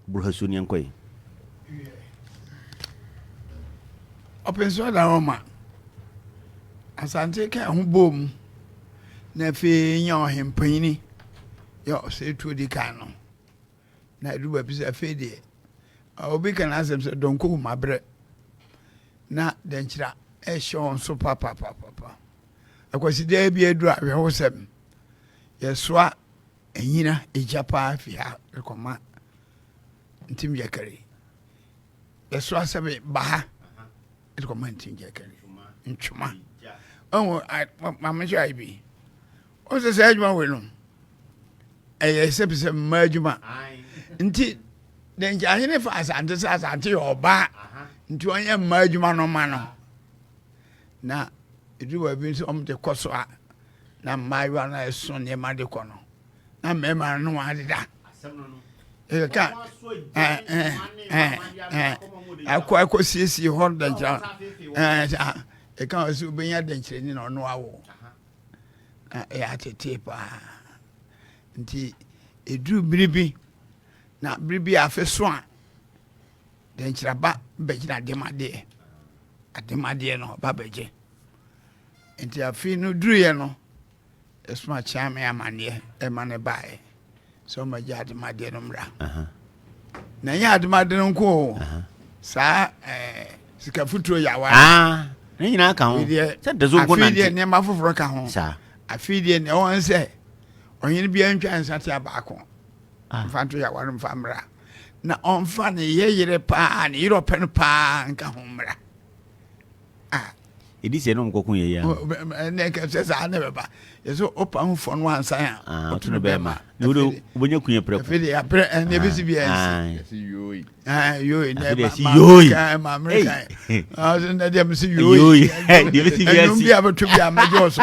Burhasun Yankoy. Ɔpenso da hɔ ma Asante kaa ho bɔɔ mu na afei nya ɔhempanyini yɛ ɔsɛetuo di kan no na ɛdu baabi sɛ afei deɛ obi ka n'asɛm sɛ dɔnkɔ hu mabrɛ na dɛnkyira ɛhyɛ wɔn so papapapapa akwasidaa bi aduru awerɛhosɛm yɛsoa Anyina egya paa fi ha rekɔma Ntim Gyakari. Bɛso asɛbe ba ha de kɔma Ntim Gyakari. Ntwoma. Ɔhu maame nso ayɛ bi. Ɔhu sɛ saa adwuma wei no ɛyɛ sɛbisɛ mmaa adwuma. Nti deɛ nkyɛ ahene fa asante sɛ asante yɛ ɔbaa nti ɔnyɛ mmaa adwuma no ma no. Na ɛduru baabi nso ɔmo de kɔ so a Na mmaayewa no ɛso nneɛma de kɔ no na mmarima no ne wɔn adeda ɛka akɔ akɔsiesie hɔ dɛnkyerɛ ɛka wɔ sɛ wobɛnya dɛnkyerɛni na ɔno awo na ɛyɛ atetee paa nti ɛduru bere bi na bere bi afe so a dɛnkyerɛba bɛgyina ademadeɛ ademadeɛ no ɔba bɛgye Enti afe no duruiɛ no, yɛsoma kyea me amanneɛ ma no baeɛ sɛ ɔma gya ademadeɛ no mmra na ɛnyɛ ademade no nko o saa eh, sika futuro yawa ah, ne nyinaa ka ho sɛ dazo nko nante afei deɛ nneɛma foforɔ ka ho afei deɛ nea ɔwɔ sɛ ɔhene biara ntwa nsa te abaako ah. mfa nto yawa no mfa mmra na ɔmfa ne yɛ yere paa ne yerɛ ɔpɛ no paa nka ho mmra ah, ɛdi sɛ nom kɔko yɛ yɛ ɛnɛ kɛsɛ saa ne bɛba yɛsɛ ɔpa ho fɔ no ansan a ɔto no bɛma wobɛnya kunyɛ prɛko afei de aprɛ ɛne ɛbɛsi bia ɛsi yoi yoi na ɛma amerika ɔsɛ na deɛ mesi yoi ɛnum bi a bɛto bi a mɛgye ɔso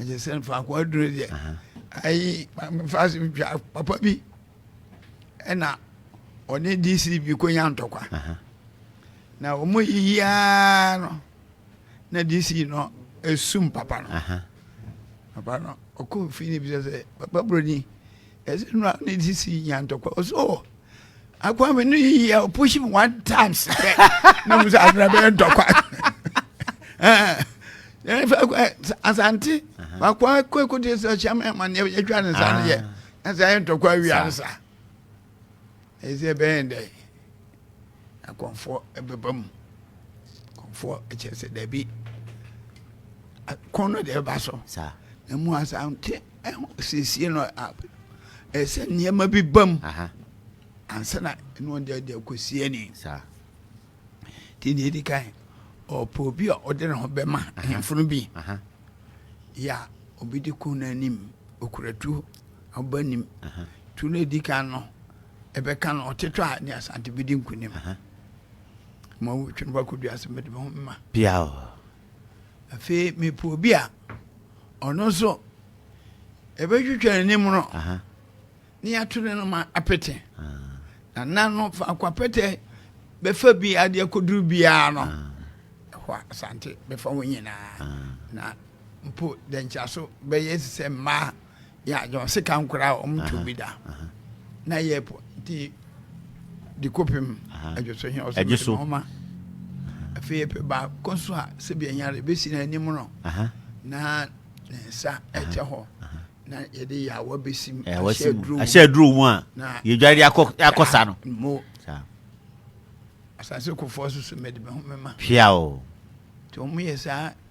ɛkyɛ sɛ faako aduro deɛ ayi mefa so twa papa bi ɛna ɔne dc bi kɔnya ntɔkwa na wɔn yiyiaa no na dc no esum papa no papa no ɔkɔ fi ne bi sɛ papa buroni ɛsɛ nura ne dc nya ntɔkwa ɔsɛ ɔwɔ. akwame no yiyi a push me one time sɛ na mu sɛ adena bɛyɛ ntɔkwa asante wakɔ akɔ ɛkɔdi sɛ ɔhyɛ ma ɛma neɛ yɛtwa ne nsa no yɛ na sɛ ɛyɛ ntɔkwa awia no sa ɛyɛ sɛ ɛbɛyɛ dɛ akɔmfoɔ ɛbɛba mu akɔmfoɔ ɛkyɛ sɛ dabi kɔn no deɛ ɛba so na mu asante Siesie no a ɛyɛ sɛ nneɛma bi ba mu ansa na ɛno ɔde ade akɔsi ani nti deɛ ɛdi kan ɔpɛ obi a ɔde ne ho bɛma hemfono bi yɛ a ɔbɛdi ko no anim ɔkura tuo ɔba anim tuo no ɛdi kan no ɛbɛka no ɔtetɔ a ne asante bɛdi nkonim ma wotwe no bakɔdua sɛ mede me ho mema Afei mepɛ obi a ɔno nso ɛbɛtwitwa n'anim no na yɛato ne no ma apete na na no faako apɛtɛ bɛfa bi ade akɔduru biara no ɛhɔ a asante bɛfa ho nyinaa na mpo dɛnkyaso bɛyɛ sɛ mmaa yɛ adze ɔse ka nkora a ɔmo tu bi da na yɛ po nti di kopim ɛdwo so hɛn ɔse mɛdɛ ɔma afei yɛpɛ baako nso a sɛbi ɛnyare ebesi na anim no na ne nsa ɛkyɛ hɔ na yɛde yɛ awa besi mu ahyɛ aduro mu a yɛdware de akɔ sa no mo asase kofoɔ soso mɛde bɛho mɛma hwea o nti ɔmo yɛ saa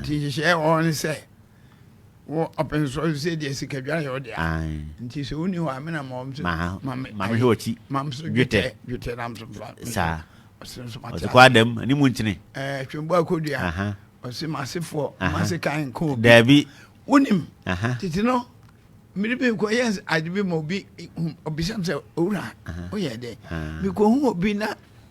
Nti nhyehyɛe a ɛwɔ hɔ ne sɛ wɔ ɔpɛn so sɛ deɛ sikadware yɛ wo dea nti sɛ wonni hɔ a me na ma wɔn so ma me ma me hwɛ ɔkyi ma me so dwetɛ dwetɛ nam so fa saa ɔsɛ nso ma ɔsɛ kɔ adam ne mu nkyene ɛɛ twembo akodua ɔsɛ ma asefoɔ ma ase kan nko obi daabi wonim tete no mmiri bi nkɔ yɛ ade bi ma obi obisam sɛ owura woyɛ dɛ mekɔhu obi na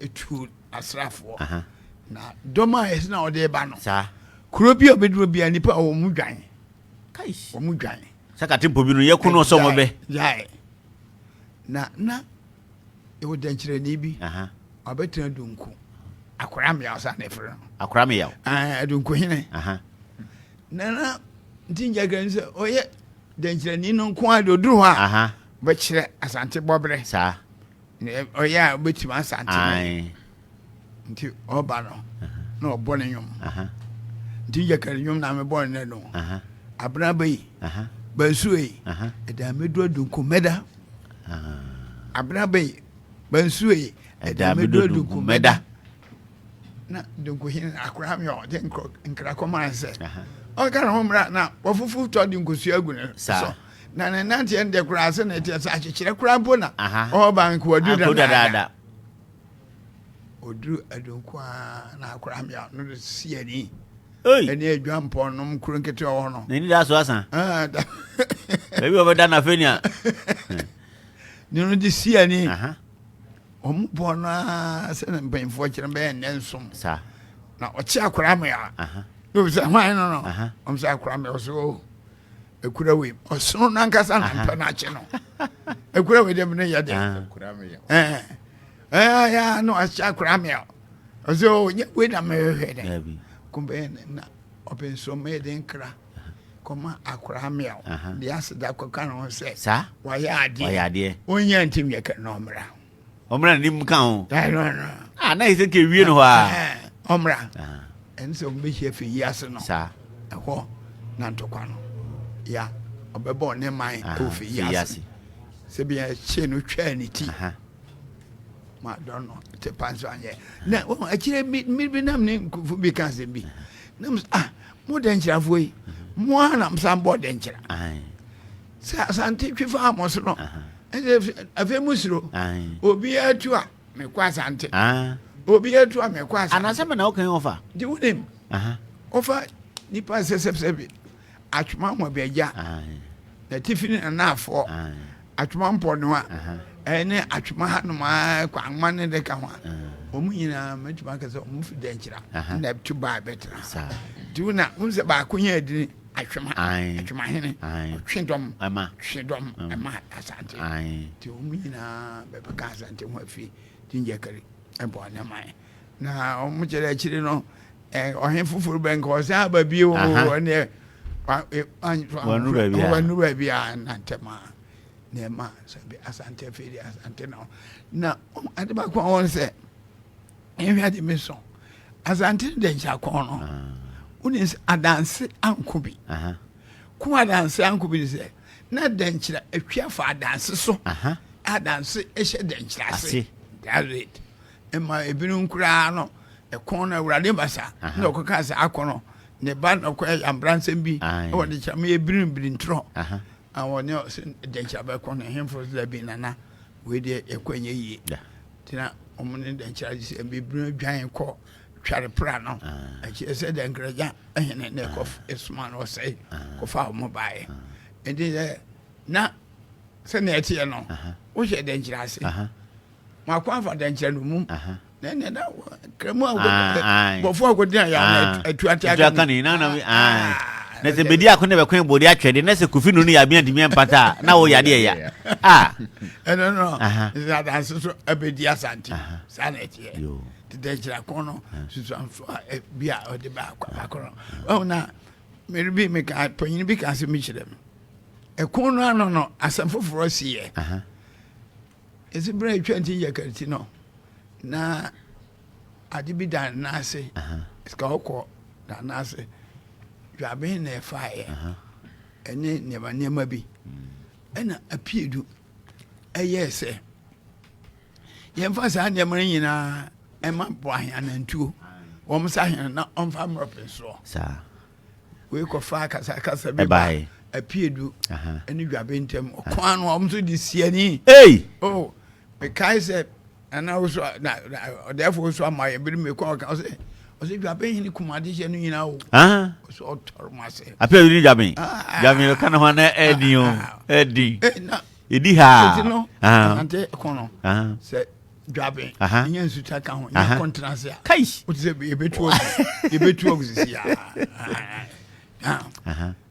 Etuo asraafoɔ na dɔm a yɛsi na ɔde ba no. Saa. Kuro bi a ɔbɛduro biara nipa a wɔn mu dwan. Kai. Wɔn mu dwan. Sɛ katempo bi no yɛ ko no sɛ wɔn bɛ. Gyae. Na na ɛwɔ dɛnkyerɛni bi. Ɔbɛtena dunku. Akora mmea ɔsan na ɛfrɛ no. Akora mmea. Ɛɛ dunku hene. Na na nti ngyagirɛ ni sɛ ɔyɛ dɛnkyerɛni no nko ara de oduru hɔ a. Bɛkyerɛ asante bɔbrɛ. Saa. Nea ɔyɛ a wobɛtumi asante no yɛ. Nti ɔba no na ɔbɔ ne nnwom. Nti yɛ kari nnwom na mebɔ nnɛ no. Abena bɛ yi, bansuo yi, ɛda mɛdu adunku mɛda. Abena bɛ yi, bansuo yi, ɛda mɛdu adunku mɛda. Na dunku hene akora mi ɔ de nkra kɔma nsɛ. Ɔka ne ho mmra na wafufu tɔ de nkusua agu ne so. Na ne nanteɛ no deɛ koraa sɛ na ɛteɛ sɛ akyekyerɛ koraa mpo na ɔba nko ɔduru dadaada ɔduru adonko a na akora mmea no de si ani ɛne adwa mpɔn nom kuro nketewa wɔ no n'ani da so asa ah, baabi ɔbɛda no afei nea ne no de si ani ɔmo bɔɔ no a sɛ na mpanyinfoɔ kyerɛ bɛyɛ nnɛ nsom na ɔkye akora mmea na obi sɛ hwan no no ɔmo sɛ akora mmea ɔsɛ o ekura wei ɔsono nankasa na mpɛ no akye no ekura wei dɛm ne yɛ dɛ ɛɛ ɛɛ ya no ahyɛ akora mi a ɔsɛ o nye wei na mɛ hwɛ dɛ kumbɛn na ɔpɛ nsuo mɛ yɛ de nkira kɔma akora mi a de aseda kɔka ne ho sɛ wayɛ adeɛ wayɛ adeɛ onye ntɛm yɛ kɛ na ɔmira. Ɔmmra ne mu ka ho. Ɛno no. Ah, na Hesekia wie no hɔ a. Ɔmmra. Ɛne sɛ ɔmbɛhyia firi yi ase no. Saa. Ɛhɔ na ntɔkwa no. Ya, ɔbɛbɔ ne man ɛwɔ firi yi ase. Sɛ bia ɛkyee no twaa ne ti. Ma dɔn no, te pa nso anyɛ. Na wɔn akyire mmiri bi nam ne nkufo bi ka asɛm bi. Nam ah, mo dɛnkyerɛfoɔ yi, mo ara na mo san bɔ dɛnkyerɛ. Sɛ Asante twi fa mo so no ɛsɛ afei mo suro obiara tu a mekɔ Asante obiara tu a mekɔ Asante. Anasɛ mena wokan ɔfa. Nti wonim ɔfa nipa sɛsɛsɛ bi atwoma mmɔbɛgya na tifi ne nanaafoɔ atwoma mpɔnoa ɛne atwoma hanom a kwanma ne de ka ho a wɔn nyinaa mɛtumi akɛ sɛ wɔn fi dɛnkyira na ɛto baa bɛtena nti wona wonsɛ baako yɛ adini Atwem ha, atwem ahene, ɔtwe dɔm, twe dɔm ɛma Asante. Nti wɔn nyinaa bɛbɛka Asante ho afi Ginger Kari ɛbɔ ne man. Na wɔn kyerɛ akyiri no ɔhene foforɔ bɛ nka ɔsan aba bio ɔneɛ wɔnuru baabi a nantɛm a nneɛma Asante afei de Asante na na ade baako a wɔn sɛ ɛnhwɛ ade me sɔn asante no dɛ nkyɛ akɔn no wone sɛ adanse anko bi ko adanse anko bi ne sɛ na dɛnkyerɛ atwi afa adanse so adanse ɛhyɛ dɛnkyerɛ ase that's it ɛma ebinom koraa no ɛkɔn no awurade basa na ɔkɔka sɛ akɔ no ne ba na ɔkɔ ɛyɛ abransɛm bi ɛwɔ de kyerɛ mo yɛ birinbiri ntorɔ awɔ ne ɔsɛ dɛnkyerɛ bɛkɔ no ɛhemfo sɛ bi nana Wei deɛ yɛkɔ ɛnyɛ yie tena wɔn ne dɛnkyerɛ agye sɛ bibire dwan kɔ tware pra no ɛkyerɛ sɛ dɛnkragya ɛhene na ɛkɔ ɛsoma no ɔsɛe kɔfa wɔn baeɛ ɛnti sɛ na sɛnea ɛteɛ no wohyɛ dɛnkyerɛ ase mo akwan fa dɛnkyerɛ no mu na sɛ bɛdi ako na bɛkɔn bɔde atwɛde na sɛ kofi no no yɛabea ntumi mpata a na wo yadeɛ ya ɛno no sɛ adanse so ɛbɛdi asante saa na ɛteɛ tetɛkyira ko no susuamfo a bi a ɔde baako no ɔhu na mere bi meka panyini bi ka sɛ mekyerɛ m ɛko no ano no asɛm foforɔ siyɛ Esi bere a etwa ntin yɛ kar ti no, na adze bi da ne nan ase. Sika ɔkɔ da ne nan ase. Dwabɛn na ɛfaeɛ ɛne nneɛma nneɛma bi. Ɛna apiedu ɛyɛɛ sɛ yɛmfa saa nneɛma no nyinaa ɛma boaheanantuo wɔn sa hene na ɔmfa mmrɔpensoɔ. Saa. wei kɔfa akasakasa bi ba apiedu ne dwabe ntam ɔko ano a wɔn nso de siani oh mekae sɛ nana woso na ɔdɛɛfo woso ama yɛ bere mi kɔ ɔka ɔsɛ ɔsɛ dwabe hene kumade hyɛ no nyinaa o ɔsɛ ɔtɔrɔ mu ase apiedu ne dwabe dwabe no ka ne ho na ɛdi o ɛdi ɛdi ha sɛ ti no asante kɔn no sɛ dwaben ɛnyɛ nsutra ka ho nyɛ kɔntenase a kai wote sɛ yɛbɛtu ɔgu yɛbɛtu ɔgu sisi a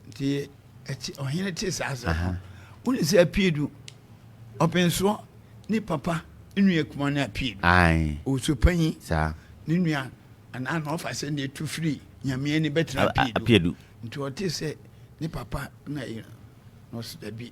nti ɔhene te saa sɛ wone sɛ apue du ɔpensoɔ ne papa nnua kuma no apue du ɔwusu panyi ne nua anaa na ɔfa sɛ ne ɛtu firi nyameɛ ne bɛtena apue du nti ɔte sɛ ne papa na ɛyɛ no ɔsɛ dabi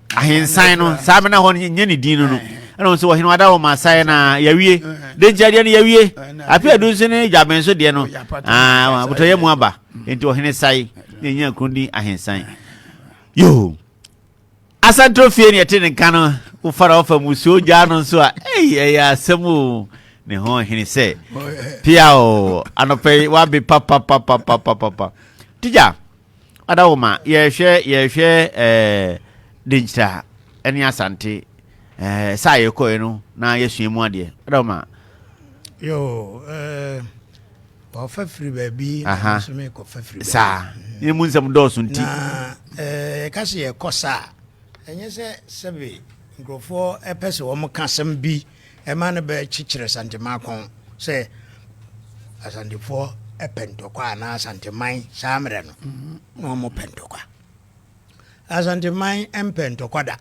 ahensan no saa bɛ na hɔ no nyɛ ne din no no ɛna wɔn sɛ wɔhene wada wɔn asaeɛ na yawie de nti adeɛ no yawie afe adu nso ne dwaben so deɛ no aa abotɔyɛ mu aba nti ɔhene sae na ɛnya kron din ahensan yoo asantoro fie ne ɛte ne nka no wofara ɔfa musuo gyaa no nso a ɛyi ɛyɛ asɛm o ne ho hene sɛ pia o anɔpɛ yi wabe papapapapapapa tigya Ada wo ma yɛhwɛ yɛhwɛ ɛɛ denkyira ɛne asante ɛɛ sɛ a yɛkɔɛ no na yɛsua mu adeɛ ada wo ma. yoo ɛɛ wɔfa firi baabi na nso mi kɔ fa firi baabi saa ne mu nsɛm dɔɔso nti na ɛɛ yɛka sɛ yɛkɔ saa ɛnyɛ sɛ sɛbi nkurɔfoɔ ɛpɛ sɛ wɔn ka asɛm bi. Ɛma no bɛ kyekyere Asanteman kɔn sɛ Asantefoɔ pɛ ntɔkwa anaa Asanteman saa mmerɛ no na wɔn pɛ ntɔkwa. Asanteman mpɛ ntɔkwa da.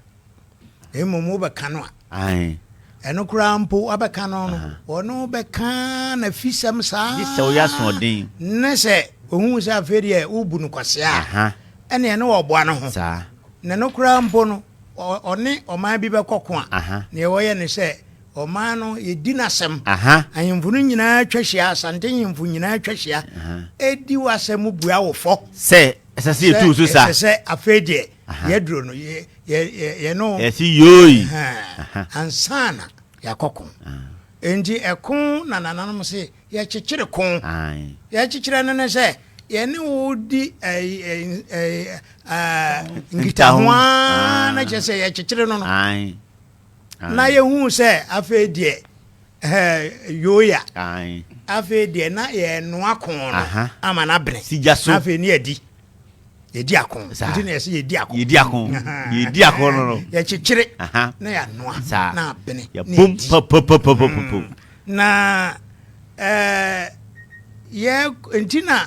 Mmom wobɛka no a. Ae. Ɛno koraa mpo wabɛka no no. Wɔne wo bɛka na fisɛm saa. Gye sɛ woyɛ asoɔden. Ne sɛ ohun sɛ afei deɛ wobu no kwasea a. Ɛneɛ ne wɔboa no ho. Saa. Na ɛno koraa mpo no. ɔne ɔman bi bɛkɔ ko a, nea wɔyɛ ne sɛ ɔman no yɛdi n'asɛm. Ahemfo no nyinaa twa hyia, Asante nhemfo nyinaa twa hyia, ɛdi w'asɛm mu bua wo fɔ. Sɛ ɛsɛ sɛ yɛtu so sa. Ɛsɛ sɛ afei deɛ yɛduro no yɛ no. Yɛsi yoi. Ansana yɛakɔ ko. Enti ɛko na nananom se Yɛkyekyere ko. Yɛkyekyerɛ no ne sɛ yɛne wo di nkitaho ara na kyerɛ sɛ yɛkyekyere no no. Na yɛhuu sɛ afei deɛ yoya afei deɛ na yɛnoa ko no ama no abene na afei ne yɛadi. yɛdi ako nti na yɛsɛ yɛdi ako yɛdi ako yɛdi ako no no yɛkyekyere na yɛanoa na abene yɛbom papapapapapo mm. na ɛɛ eh, yɛ nti na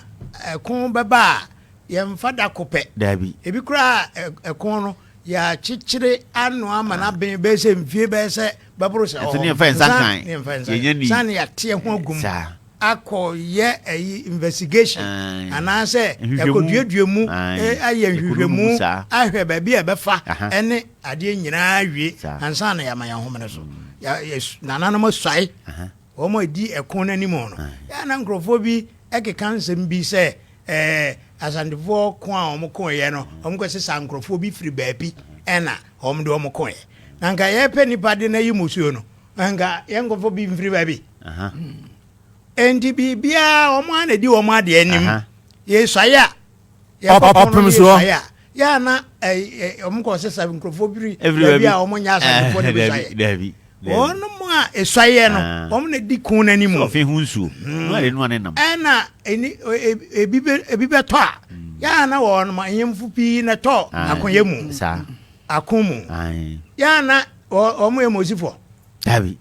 ɛko eh, bɛba a yɛmfa da ko pɛ daabi ebi koraa eh, ɛko no yɛakyekyere anoa ma no aben bɛyɛ sɛ mfie bɛyɛ sɛ bɛboro sɛ ɔhɔ ne yɛmfa nsa nkan yɛnya ni sane yɛateɛ ho agum akɔ yɛ ɛyi investigation anaasɛ yɛkɔ duadua mu ayɛ nhwehwɛmu ahwɛ baabi a ɛbɛfa ɛne adeɛ nyinaa wie ansa na yɛama yɛn homene so nananom asuae wɔn a ɛdi ɛko no anim no yɛa na nkurɔfoɔ bi ɛkeka nsɛm bi sɛ ɛɛ asantefoɔ ko a wɔn ko yɛ no wɔn kɔ sesa nkurɔfoɔ bi firi baabi ɛna wɔn de wɔn ko yɛ na nka yɛpɛ nipa de no ayi musuo no Anka yɛn nkɔfo bi mfiri baabi. Enti biribiara wɔn ara na edi wɔn adeɛ anim. Yɛsuae a. Ɔpem soɔ. Yɛ a na wɔn kɔ sɛ sɛ nkurɔfoɔ biri baabi a wɔn nyɛ asadefoɔ na bɛsuaeɛ. Wɔn mu a esuaeɛ no wɔn na edi kun n'anim. Sɛ ɔfe ho nsuo. Ɛna ebi bɛtɔ a yɛ a na wɔn anyɛnfo pii na ɛtɔ akoyɛ mu. Ako mu. Yɛ a na Wɔn yɛ Mosifɔ. Dabi.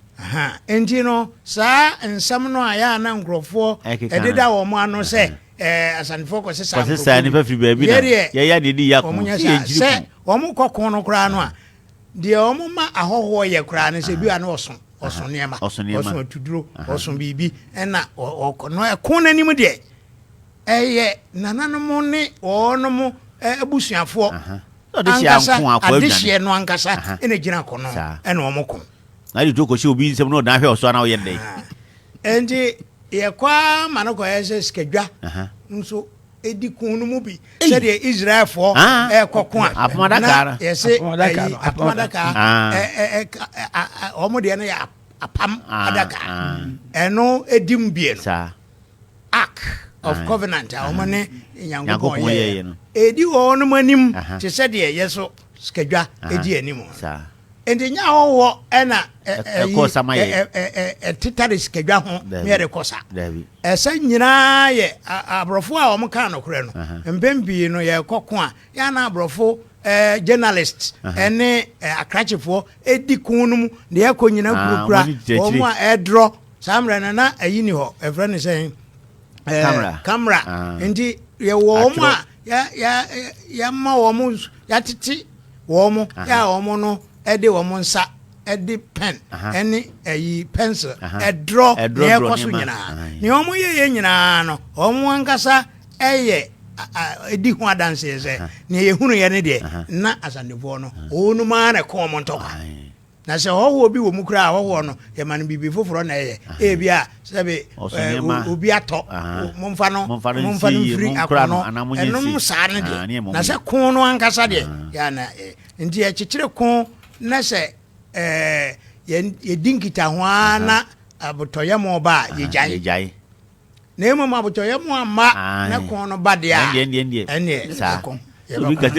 Nti no, saa nsɛm no a yɛ a na nkurɔfoɔ ɛdeda wɔn ano sɛ Asantefoɔ kɔse saa nkurɔfoɔ. Kɔse saa nipa firi baabi na yɛyɛ deɛ di yɛ ako. Wɔn nyɛ saa sɛ wɔn kɔ ko no koraa no a deɛ wɔn ma ahɔhoɔ yɛ koraa no sɛ bi a na ɔso ɔso nneɛma ɔso atuduro ɔso biribi ɛna ɔkɔ no ɛko n'anim deɛ ɛyɛ nananom ne wɔn abusuafoɔ. ankasa adehyeɛ no ankasa ɛna gyina kɔ no ɛna wɔn ko. na de to kɔhyɛ obi nsɛm na ɔdan hwɛ ɔso ana ɔyɛ dɛ. nti yɛkɔ ara ma no kɔyɛ sɛ sikadwa nso edi kun no mu bi sɛdeɛ israelfoɔ ɛkɔ ko a na yɛsɛ ɛyi apam adaka wɔn deɛ no yɛ apam adaka ɛno edi mu bie no. Ark of Covenant a wɔn ne Nyankopɔn yɛeɛ no, ɛredi wɔnom anim te sɛ deɛ yɛ so sikadwa di anim. Enti nyɛ ahɔhoɔ ɛna ɛtetare sikadwa ho ne yɛde kɔ sa. Ɛsɛ nyinaa yɛ aborɔfo a wɔn kaa nokorɛ no. Mpɛn pii no yɛkɔ ko a, yɛana aborɔfo journalist ne akrakyefoɔ edi kon no mu de akɔ nyina kurakura wɔn a ɛdrɔ saa mmerɛ no na ayi ni hɔ ɛfrɛ no sɛn kamera nti yɛwɔ wɔn a yɛma wɔn yɛatete wɔn yɛ a wɔn no ɛde wɔn nsa ɛde pɛn ɛne ɛyi pɛnsil ɛdrɔ nea ɛkɔ so nyinaa nea wɔn yɛ yɛ nyinaa no wɔn ankasa. ɛyɛ ɛdi ho adanseɛ sɛ neɛ yɛhunuiɛ no deɛ na asantefoɔ no wɔnom ara na ɛkɔn ɔmo ntɔkwa na sɛ ɔhɔhoɔ bi wɔ mu koraa ɔhɔhoɔ no yɛma no biribi foforɔ na ɛyɛ ebi a sɛbi obi atɔ momfa no momfa no mfiri akɔnɔ ɛnom saa no deɛ na sɛ ko no ankasa deɛ yɛana nti yɛkyekyere ko na sɛ yɛdi nkitaho ara na abotɔyɛ mo ba a yɛgyae Na mmom abotɔyam a mma ne ko no ba deɛ a, ɛneɛ ɛko yɛbɛkɔ.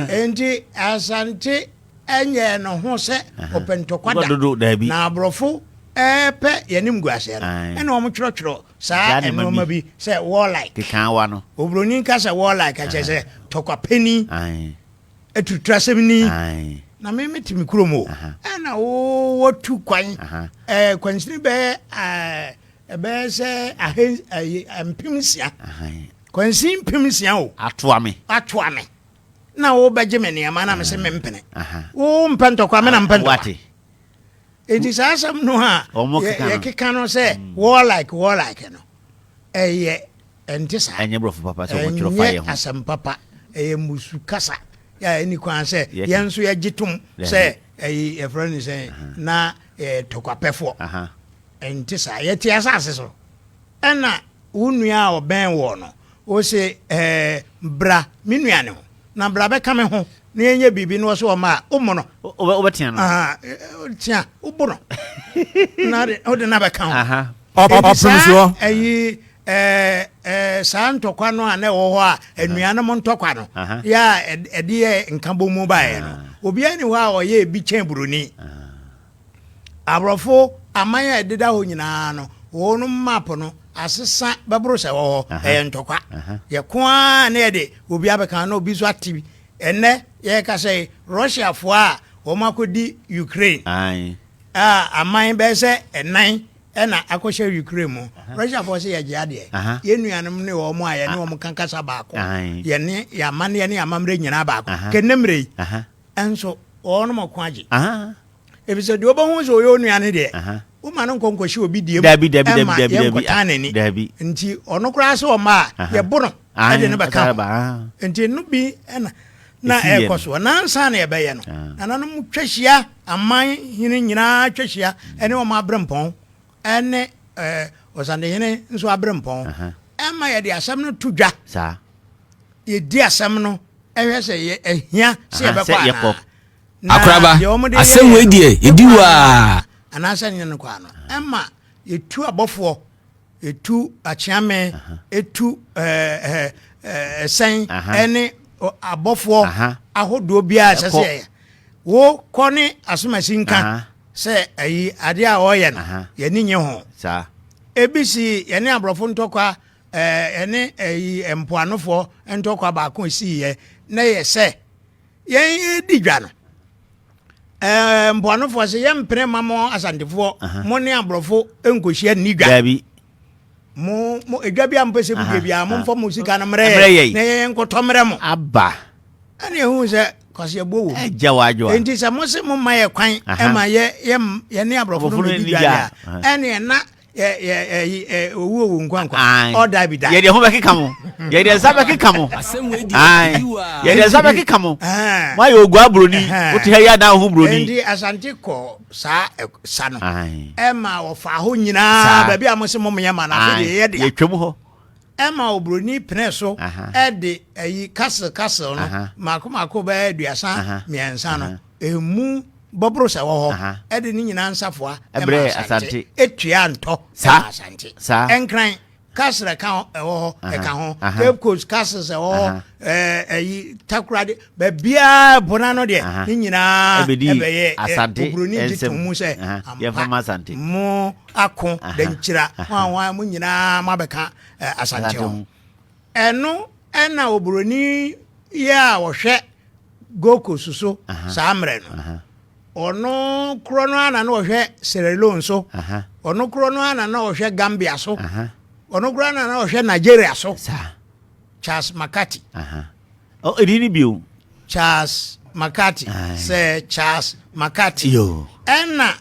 Enti Asante ɛnyɛ no ho sɛ ɔpɛ ntɔkwa da, na aborɔfo ɛɛpɛ yɛne mguaseɛ no, ɛna wɔn twerɛtwerɛ saa nnoɔma bi sɛ warlike, obroni nka sɛ warlike akyɛ sɛ tɔkwa pɛni. Aturutrasɛm ni, na me mete me kurom o. Ɛna wɔtu kwan kwansini bɛyɛ ɛbɛyɛ sɛ ahen ɛyɛ mpem nsia kwansin mpem nsia o atoa me atoa me na wobɛgye me nneɛma na mese mempene wo mpɛ ntɔkwa me na mpɛ ntɔkwa enti saa asɛm no a yɛkeka no sɛ mm. warlike warlike no ɛyɛ Ɛnte saa. Ɛnyɛ Borɔfo papa sɛ wɔtwerɛ fa yɛn ho. Ɛnyɛ asɛm papa. Ɛyɛ mmusu kasa a ɛnni kwan sɛ yɛn nso yɛgye tom sɛ ɛyi yɛfrɛ no sɛn na yɛyɛ tɔkwapɛfoɔ. Ɛnte saa. Yɛte asase so. Ɛna wo nua a ɔbɛn woɔ no, ose ɛɛ bra me nua ne ho. na bra bɛka me ho na yɛnyɛ biribi na ɔsɛ ɔma a wommɔ no wobɛtea no tea wobo no na wode no abɛka ho saa ayi saa ntɔkwa no a na ɛwɔ hɔ a anuanom ntɔkwa no yɛ a ɛde yɛ nka bɔ mu baeɛ no obiara ne hɔ a ɔyɛ ebi kyɛn buroni Aborɔfo aman a ɛdeda hɔ nyinaa no, wɔn map no asesa bɛboro sɛ ɛwɔ hɔ. Ɛyɛ ntɔkwa. Yɛko ara na yɛde obi abɛka ho na obi nso ate bi. Ɛnnɛ yɛrekasa yi, Russiafo a wɔakɔdi Ukraine a aman bɛyɛ sɛ nnan na akɔhyɛ Ukraine mu. Russiafo sɛ yɛgye adeɛ. Yɛn nuanom ne wɔn a yɛne wɔn ka kasa baako. Yɛn amanneɛ ne yɛn amammerɛ nyinaa baako. Kɛnnɛ mmerɛ yi. Nso wɔnom ɔko agye. Efisɛ deɛ wobɛhu sɛ ɔyɛ onua no deɛ, woma no nkɔ nkɔhyɛ obi deɛ mu mma yɛnkɔtan n'ani. Nti ɔno koraa sɛ ɔmma a, yɛbo no de no bɛka ho. Nti ɛno bi na na ɛrekɔ soɔ. Na ansa na yɛbɛyɛ no, nananom twa hyia, aman hene nyinaa twa hyia ne wɔn aberempɔn. ne Ɔsadehene nso aberempɔn ma yɛde asɛm no to dwa. Yɛdi asɛm no hwɛ sɛ ɛhia sɛ yɛbɛkɔ anaa. Akoraba, asɛm wei deɛ yɛdi wɔ a. Anaasɛ nyɛ no kɔ ano. Ɛma yɛtu abɔfoɔ, yɛtu akyeame, yɛtu ɛsɛn ne abɔfoɔ ahodoɔ biara ɛsɛ sɛ yɛyɛ. Wo kɔ ne asomasi nka sɛ ayi adeɛ a ɔreyɛ no yɛni nye ho. Ebi si yɛne aborɔfo ntɔkwa ɛne ayi mpoanofoɔ ntɔkwa baako esii yɛ na yɛ sɛ yɛn edi dwa no mpoanofoɔ sɛ yɛn mpene ma mo asantefoɔ mo ne aborɔfo nkohyia nni dwa. mo mo edwa bi a mo pɛ sɛ mo dua bi a mo nfa mo sika no mmerɛ yɛ na yɛyɛ nkɔtɔ mmerɛ mo. aba. ɛna ehu sɛ kwasi ɛbɔ wɔ mu. ɛgya wɔ adwo a. nti sɛ mo se mo ma yɛ kwan ɛma yɛ yɛ yɛ ne aborɔfo no mo di dwa yɛ a ɛna ɛna yɛ yɛ ɛyi ɛ owu owu nkwankwa ɔda bi da. yɛ de ho bɛ keka mo yɛ de nsa bɛ keka mo ayi yɛ de nsa bɛ keka mo mo ayɛ ogu aburoni o ti hɛ yɛ adan ho buroni. nti asante kɔ saa sa no ɛma wɔfaa hɔ nyinaa baabi a mo se mom yɛ ma no afei deɛ yɛ dea yɛtwam hɔ ɛma oburoni pene so ɛde ayi castle castle no mako mako bɛyɛ aduasa mmiɛnsa no ɛmu bɔboro sɛ wɔ hɔ ɛde ne nyinaa nsafoa ɛma asante ɛtua ntɔ ɛma asante ɛnkran Castle ɛka ho ɛwɔ hɔ ɛka ho Cape Coast castles ɛwɔ hɔ ɛɛ ɛyi Takoradi baabiara ɛpo n'ano deɛ ne nyinaa ɛbɛyɛ ɛ oburoni gye to mu sɛ ampa mo ako dankyira ho a wɔn a mo nyinaa mo abɛka ɛ Asante ho ɛno ɛna oburoni yɛ a wɔhwɛ. Gold Coast so saa mmerɛ no. Ɔno korɔ no ara na na ɔhwɛ Sierra Leone so. Ɔno korɔ no ara na na ɔhwɛ Gambia so. Ɔno korɔ na na ɔhwɛ Nigeria so. Charles McCarthy. Ɛdin no bio. Charles McCarthy. Sir Charles McCarthy. Ɛna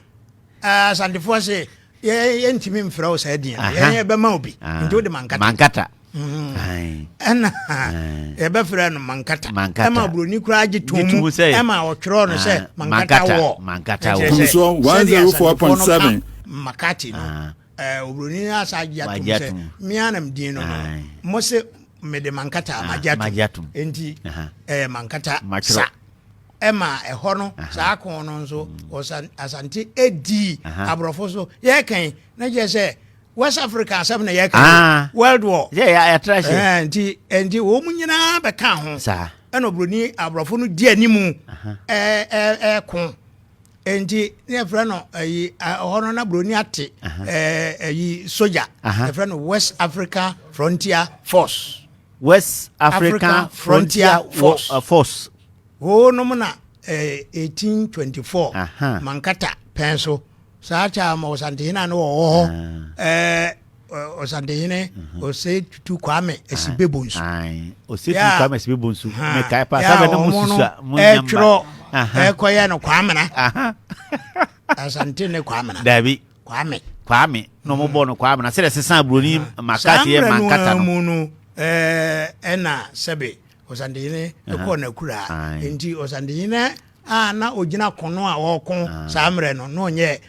Asantefoɔ se yɛntumi mfrɛ wo saa din no yɛn yɛbɛma obi nti wode mankata mankata ɛna yɛbɛfrɛ no mankata ɛma buroni koraa gye to mu ɛma ɔtwerɛ no sɛ mankata wɔ mankata wɔ sɛdeɛ asantefoɔ no ka makati no oburoni no asa agye atom sɛ mea nam din no no mo se mede mankata magye atom nti ɛyɛ mankata sa ɛma ɛhɔ no saa ko no nso ɔsan asante edii aborɔfo so yɛkɛn na kyerɛ sɛ west africa asɛm na yɛkɛn ah. world war nti nti wɔn nyinaa bɛka ho ɛna oburoni aborɔfo no di anim ɛɛ ɛɛ ko nti ne yɛfrɛ no ɛyi ɛhɔ no na buroni ate ɛɛ ɛyi soja yɛfrɛ no west africa frontier force west africa, africa frontier, frontier force. Uh, force Hoo nom na eh, 1824 Aha. Mankata pɛn so saa kyɛ ama ɔsantehene a ne wɔwɔ hɔ ah. eh, ɔsantehene mhm. ɔsɛ tutu kwame asibebo nsu ɔsɛ tutu kwame asibebo nsu mekae pa sɛ bɛne mo susu a mo nyamba ɛtwerɛ ɛkɔyɛ no kwamena asante ne kwamena dabi kwame kwame na ɔmo bɔ no kwame na sɛdeɛ sesan buroni makati yɛ mankata no mu no ɛna sɛbe Ɔsantehene kɔɔ n'akuraa. Nti ɔsantehene a na ɔgyina kono a ɔreko saa mmerɛ no na ɔnyɛ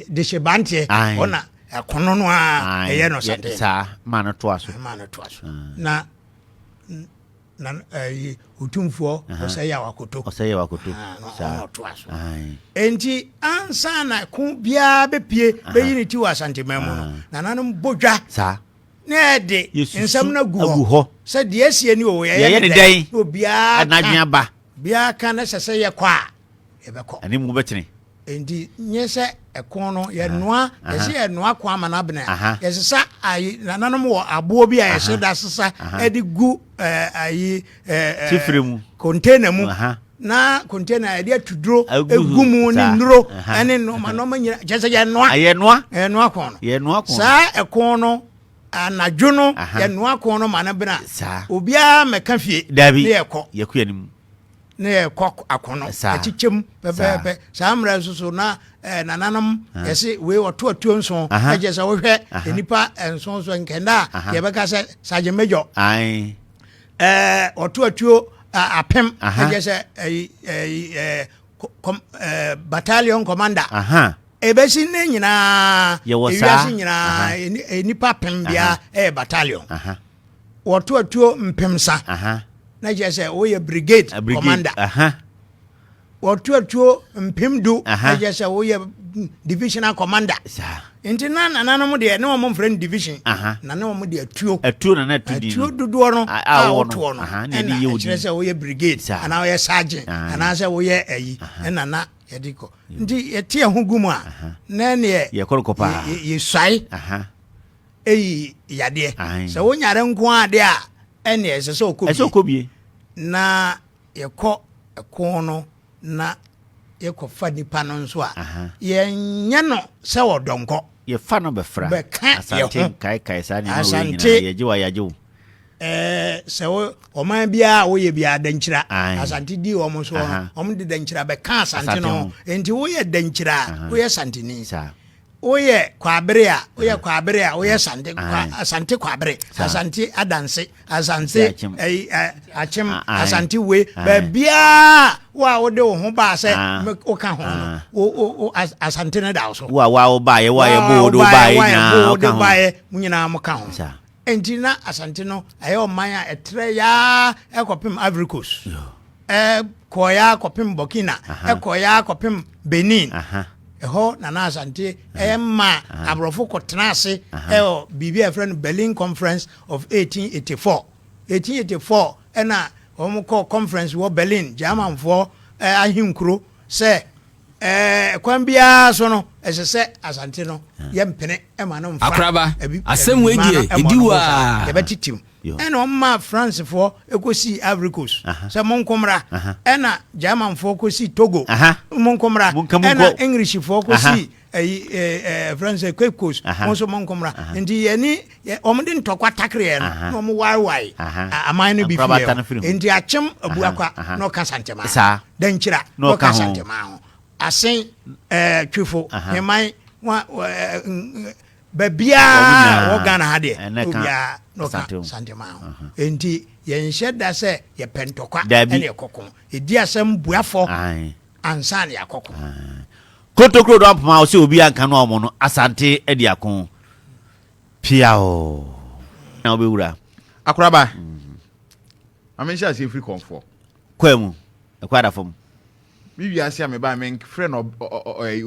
dehyebanteɛ ɔna ɛkono no a ɛyɛ no ɔsantehene. Saa maa no toa so. Maa no toa so. Na na ɛyi otumfoɔ ɔsɛyɛ awakoto. Ɔsɛyɛ awakoto. Saa ɔtoa so. Nti ansa na ko biara bɛpie bɛyi ne ti wɔ asanteman mu no nananom bɔ dwa. Saa. na yɛde nsɛm no agu hɔ sɛ deɛ asie ne o yɛyɛ ne dɛn na obiara ka aba biara ka na sɛ sɛ yɛkɔ a yɛbɛkɔ ɛne mu bɛtene nti nyɛ sɛ ɛko no yɛnoa yɛsɛ yɛnoa ko ama no abena yɛsesa ayi nananom wɔ aboɔ bi a yɛhyɛ da sesa ɛde gu ayi tifire mu container mu na container yɛde atu duro egu mu ne nnuro ɛne nnoɔma nnoɔma nyina kyɛ sɛ yɛnoa yɛnoa yɛnoa kɔn no yɛnoa kɔn saa ɛkɔn no anadwo no yɛnoa kɔn no ma no bena obiara mɛka fie dabi ne yɛkɔ yɛkɔ yɛn mu ne yɛkɔ akɔnɔ ɛkyekyɛm pɛpɛɛpɛ saa mmerɛ nso so na ɛɛ nananom yɛsi wei ɔto atuo nson ɛkyɛ sɛ wohwɛ nipa nson so nkɛnda a yɛbɛka sɛ sajemɛjɔ Ɛɛ ɔto atuo apem. Ɛdeɛ sɛ ɛyi ɛyi ɛɛ kɔm ɛɛ battalion commander. Ebesi ne nyinaa. Yɛwɔ saa ewiase nyinaa nipa apem bia ɛyɛ battalion. Wɔto atuo mpemsa. Na kyerɛ sɛ wɔyɛ brigade commander. wɔto atuo mpem du ɛyɛ sɛ woyɛ divisional commander nti na nananom deɛ ne wɔn mfrɛ no division na ne wɔn de atuo atuo na na atu din atuo dodoɔ no a wɔtoɔ no ɛna ɛkyerɛ sɛ woyɛ brigade anaa woyɛ sergeant anaasɛ woyɛ ayi ɛna na yɛde kɔ nti yɛte ɛho gu mu a na neɛ yɛsuae ɛyi yadeɛ sɛ wonyare nko adeɛ a ɛneɛ ɛsɛ sɛ ɔkɔ bie na yɛkɔ ɛko no na yɛkɔfa nipa no nso a, yɛnyɛ no sɛ ɔdɔnkɔ. Yɛfa no bɛfra. Bɛka Asante nkaekae saa nneɛma wei nyinaa yɛgye wa yɛagye wo. Ɛɛ sɛ wo ɔman biara a woyɛ biara dankyira Asante di wɔn so wɔn de dankyira bɛka Asante no ho. Nti woyɛ dankyira a woyɛ Asanteni. woyɛ kwabere a woyɛ kwabere a woyɛ asante kwa asante kwabere asante adanse asante ɛyi akyem asante we baabiara wo a wode wo ho baa sɛ woka ho no wo wo asante no da wo so wo a wo a wo baayɛ wo a yɛbɔ wo de wo baayɛ nyinaa wo de baayɛ mo nyinaa mo ka ho. Enti na Asante no yɛ ɔman a ɛtrɛɛ ara kɔpem Ivory Coast, ɛkɔɔɛ ara kɔpem Burkina, ɛkɔɔɛ ara kɔpem Benin. Ɛhɔ na na Asante yɛ ma aborɔfo kɔtena ase wɔ biribi a yɛfrɛ no Berlin Conference of 1884. 1884 na wɔkɔɔ conference wɔ Berlin, Germanfoɔ ahenkuro sɛ Kwan biara so no, ɛsɛ sɛ Asante no yɛ mpene ma no mfa abibima no mmɔ no ho sa. Yɛbɛtetew. Ɛnna wɔmaa Francefoɔ kɔsii Ivory Coast sɛ, Monko mmra. Ɛnna Germanfoɔ kɔsii Togo, Monko mmra. Ɛnna Englishfoɔ kɔsii ɛyi ɛɛ ɛɛ ɛfrɛ no sɛ Cape Coast, Mo nso monko mmra. Nti yɛne wɔde ntɔkwa takereɛ no na wɔn waewae aman no bi fie nti akyem abuakwa na ɔka santema dankyira na ɔka santema ho asen twifo heman baabiaa wɔ ghana ha deɛ obiaa na ɔka santema ho nti yɛnhyɛ da sɛ yɛpɛ ntɔkwa ɛne ɛkɔko ɛdi asɛm buafɔ ansa ne akɔko kotokuro do apoma ɔsɛ obi anka no a ɔmo no asante adi ako Piaww! Na wobɛwura. Akoraba. Ma menhyɛ aseɛ firi kɔnfoɔ. Kwaa mu. Ɛkɔ ada fam. Me wiase a mebaa me frɛ no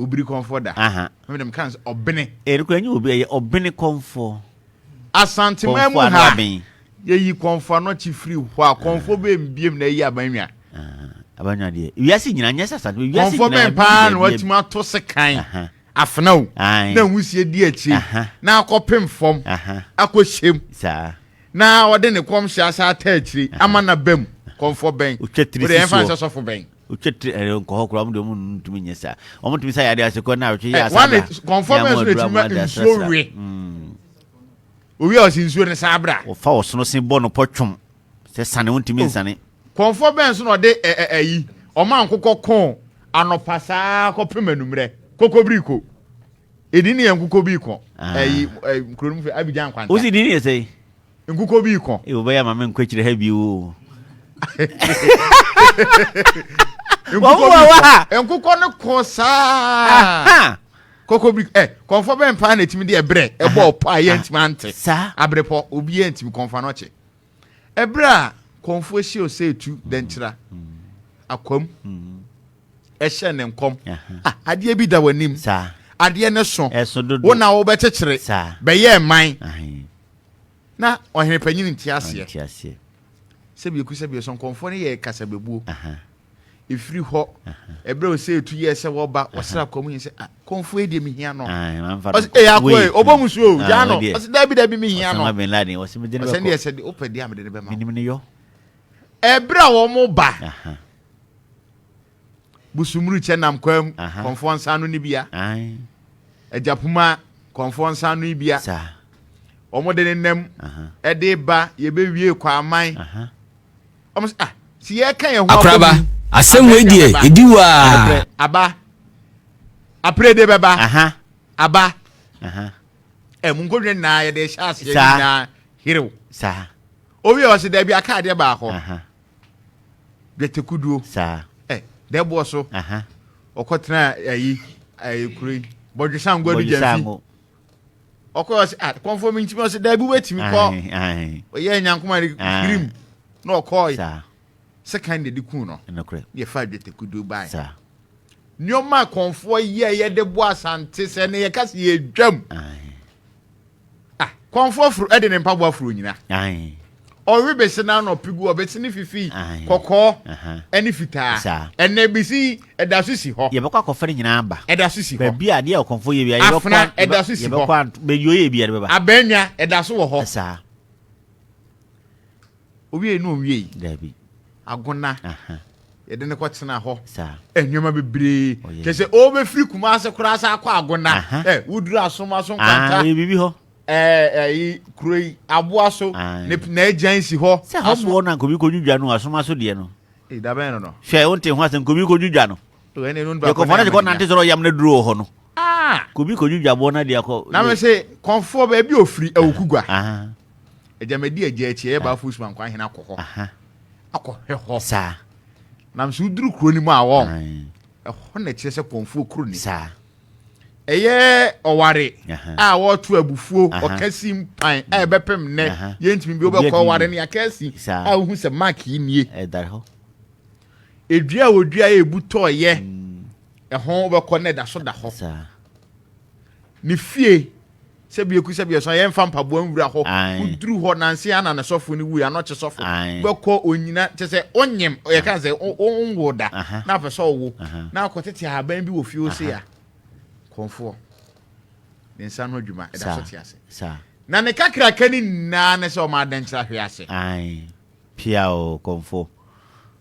obiri kɔnfoɔ da. Aha. Me dem kan ɔbene. Eh, nukura nye obi ɛyɛ ɔbene kɔnfoɔ. Asanteman mu ha. Yɛyi kɔnfoɔ no kyi firi hɔ a kɔnfoɔ bɛ mbiem na ɛyi abanwa. Abanwa deɛ. Wiase nyina nyɛ sasa. Wiase nyina. Kɔnfoɔ bɛn paa na watumi ato se kan. afena o na nwusie di akyi na akɔpem fam akɔhyɛm na ɔde ne kɔmhyɛ asa ata akyiri ama na bam kɔmfɔ bɛn wode ɛmfa nsɛ sɔfo bɛn wotwetiri ɛrɛ eh, nkɔhɔ koraa wɔn de wɔn ntumi nyɛ saa wɔn tumi sa yade ase kɔ na awotwe yɛ eh, asaabra kɔnfɔ bɛn so na etumi ma nsuo we hmm. owi a ɔsi nsuo ne saabra wɔfa ɔsono se bɔ no pɔ twom sɛ sane wɔn ntumi oh. nsane. Kɔmfoɔ bɛn so na ɔde ɛ ɛ ayi, ɔma nkokɔ ko anɔpa saa ara kɔpem anummerɛ? Kokobiriko. Edin no yɛ Nkokobiriko. Ayi, ɛ, kuro no mu fɛ, Abidjan Nkwanta. Wosi din no yɛ sɛn? Nkokobiriko. Ee, wobɛyɛ ama me nkɔ akyire ha bio o. Wɔn mu wɔ hɔ a. Nkokɔ no ko saa. Aha! Kokobiriko, ɛ, kɔmfoɔ bɛn paa na ɛtumi de ɛberɛ ɛbɔ ɔpɔ a yɛntumi ante? Saa. Aberepɔ, obiara ntumi, kɔmfoɔ anɔkye. Ɛberɛ a kɔmfoɔ hyɛ ɔsɛ tu dɛnkyera akwam ɛhyɛ ne nkɔm ah, adeɛ bi da w'anim adeɛ ne so wo na wobɛkyekyere bɛyɛ man na ɔhene panyini nte aseɛ sɛbieku sɛbieso nkɔmfoɔ no yɛ kasabɛbuo ɛfiri hɔ ɛberɛ o sɛ ɛtu yɛ sɛ wɔba wɔsra kɔm yɛ sɛ ah, kɔmfoɔ yi deɛ mehia no ɛyɛ akoa yi ɔbɔ mu suo gyaa no ɔsɛ daabi daabi mehia no ɔsɛ deɛ sɛ wopɛ deɛ a mede no bɛma ɛberɛ a wɔn ba busumuru kyɛ nam kwa mu kɔmfoɔ nsa no ne bia agyapoma kɔmfoɔ nsa no bia wɔn de ne nam ɛde ba yɛbɛwie kwaman wɔn sɛ ah si yɛ ka yɛn ho akoraba asɛm wei deɛ ɛdi wɔ a aba apere de bɛba aba ɛmu nkɔdwa nyinaa yɛde hyɛ aseɛ nyinaa herew saa obi a ɔsɛ daabi aka adeɛ baakɔ dwatekuduo saa ɛ dɛboɔ so ɔkɔtena ayi ayi kuro yi bɔdwesangua no gyanfi ɔkɔɔ sɛ ah kɔnfɔ mi ntumi ɔsɛ daabi wetumi kɔ ɔyɛ nyankoma de kirim na ɔkɔɔ yi sɛ kan de de kun no na yɛfa adwete kudu ban nneɛma kɔnfoɔ yi a yɛde bɔ asante sɛ ne yɛka sɛ yɛdwam ah kɔnfoɔ foro ɛde ne mpaboa foro nyina Ɔrebesi n'anɔpe gu, ɔbesi ne fifi kɔkɔɔ ne fitaa. Ɛnna ebesi yi, ɛda so si hɔ. Yɛbɛkɔ akɔfa ne nyinaa aba. Ɛda so si hɔ. Baabi a adeɛ a ɔkɔmfo yɛ bia, yɛbɛkɔ Afena, ɛda so si hɔ. Baabi ɔyɛ bia, yɛbɛba. Abɛnwa, ɛda so wɔ hɔ. Saa. Owie no owie yi. Daabi. Agona. Yɛde no kɔtena hɔ. Saa. Nneɛma bebree. Kyɛ sɛ ɔbɛfiri Kumase koraa sɛ akɔ Agona. Ɛ woduru asom aso nkwanta. Yɛ biribi hɔ. Ɛɛ ɛyi kuro yi aboa so ne n'agyan si hɔ. sɛ hɔ boɔ na nkobi kɔdwidwa no asoma so deɛ no dabɛn no no hwɛ wonte ho asɛ nkobi kɔdwidwa no yɛkɔfoɔ no de kɔnante sɔrɔ yam no duro wɔ hɔ no kobi kɔdwidwa boɔ no ade akɔ na me se kɔnfoɔ baabi ofiri awukugwa agyamadi agya akyi ɛyɛ baafo usuma nkwa ahene akɔ hɔ akɔhwɛ hɔ saa nam so woduru kuro no mu a wɔn ɛhɔ na ɛkyerɛ sɛ kɔnfoɔ kuro ni saa ɛyɛ ɔware a wɔreto abufuo ɔkɛse mpan a ɛbɛpem nnɛ yɛntumi bi wobɛkɔ ɔware no yɛkɛse a wohu sɛ mark yi nie ɛdua a wɔdua a ɛbu tɔɔyɛ ɛho wobɛkɔ no ɛda so da hɔ ne fie Sɛ biako sɛ biaso a yɛnfa mpaboa nwura hɔ. Woduru hɔ nanse ana ne sɔfo no wui, anɔkye sɔfo bɛkɔ onyina kyɛ sɛ onyem yɛ ka sɛ onwo da na apɛ sɛ ɔwo na akɔ tete ahaban bi wɔ fie hɔ sei a kɔnfoɔ ne nsa ano adwuma ɛda so te ase na ne kakraka no nyinaa ne sɛ ɔma adankyerɛ ahwe ase. Ae pia o kɔnfo.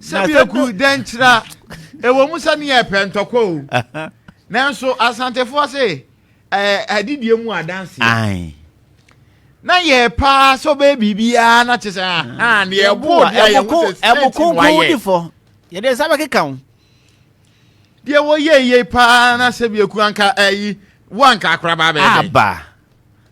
sɛbiaku dɛn kyerɛ ɛwɔ mu sɛ ne yɛ pɛ ntɔkwa o nanso asantefoɔ se adidie mu adanse na yɛ paa sɛ ɔbɛyɛ biribiaa na kye sɛ deɛ ɛboɔ deɛ yɛwo sɛ straight no wayɛ yɛde nsa bɛkeka wo deɛ wɔyɛ yie paa na sɛbiaku anka ayi wo anka akorabaa bɛyɛ dɛn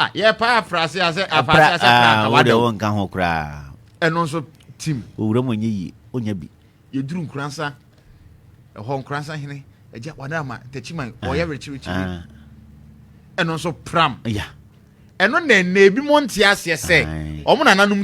Ah, yɛpa aprase a sɛ apase a sɛ pra nka wada wo. nka ho koraa. Ɛno nso tim. Owura mu nyɛ yie, onya bi. Yɛduru nkuransa, ɛhɔ nkuransa hene, agya wada ama takyiman, ɔyɛ werekyerekye bi. Ɛno nso pram. Yeah. ɛno na ɛnna ebi mo nte aseɛ sɛ wɔn nananom